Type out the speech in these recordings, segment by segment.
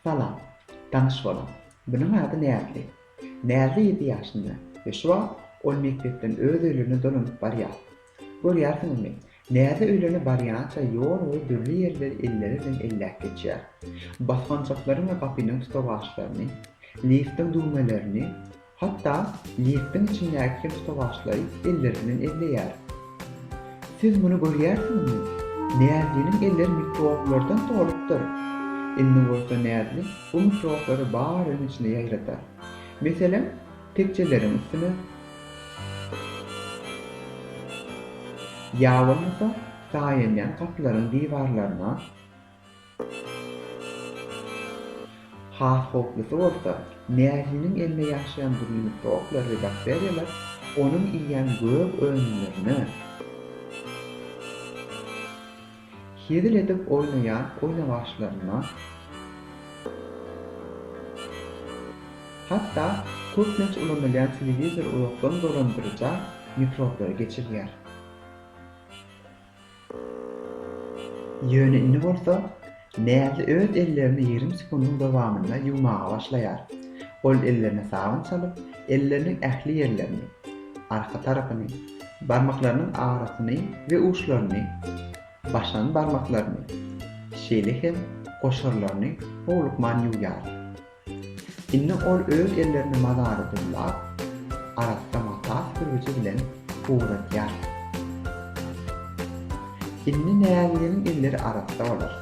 Salam. Tanyş bolaň. Munuň ady Näzli. Näzli ýedi ýaşynda we şu wagt ol mekdepden öz öýlerine dolanyp barýar. Görýärsiňizmi, Näzli öýlerine barýança ýol boýy dürli ýerleri elleri bilen elläp geçýär. Basgançaklaryň we gapynyň tutawaçlaryny, liftiň düwmelerini, Hatda liftiň içindäki kebsowaşlaý elleri bilen elleýär. Siz muny görýärsiňizmi? Näzliniň elleri mikroblardan solupdyr. Indi bolsa Näzli bu mikroblary bar öýüň içine ýaýradar. Meselem, tekjeleriň üstüne. Ýa bolmasa, saýenýän gapylaryň diwarlaryna. Has howplusy bolsa, Mähiniň elinde ýaşaýan dürli mikroblardy bakteriýalar onuň iýýän gök önümlerine, hezil edip oýnaýan oýnawaçlaryna, hatda köplenç ulanylýan telewizory uzakdan dolandyryja mikroblara geçirýär. Ýöne indi bolsa Näzli öz ellerini ýerim sekundyň dowamynda ýuwmaga başlaýar. Ol ellerine sabyn çalyp, elleriniň ähli ýerlerini, arka tarapyny, barmaklarynyň arasyny we uçlaryny, başan barmaklaryny, şeýle hem goşarlaryny howlukman ýuwýar. Indi ol öz ellerini mazary dullap, arassa mata sürgüji bilen ugradýar. Indi Näziginiň elleri arassa bolar.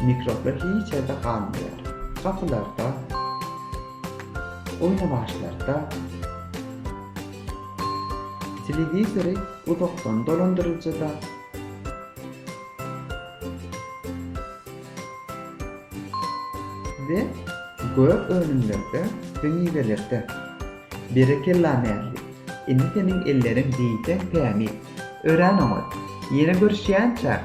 Mikroblar hiç ýerde galmaýar. Gapylarda, oýnawaçlarda, telewizory uzakdan dolandyryljyda, Size gök önümlerde we miwelerde berekella Mähri indi seniň elleriň diýseň tämiz. Örän oňat. Ýene görüşýänçäk!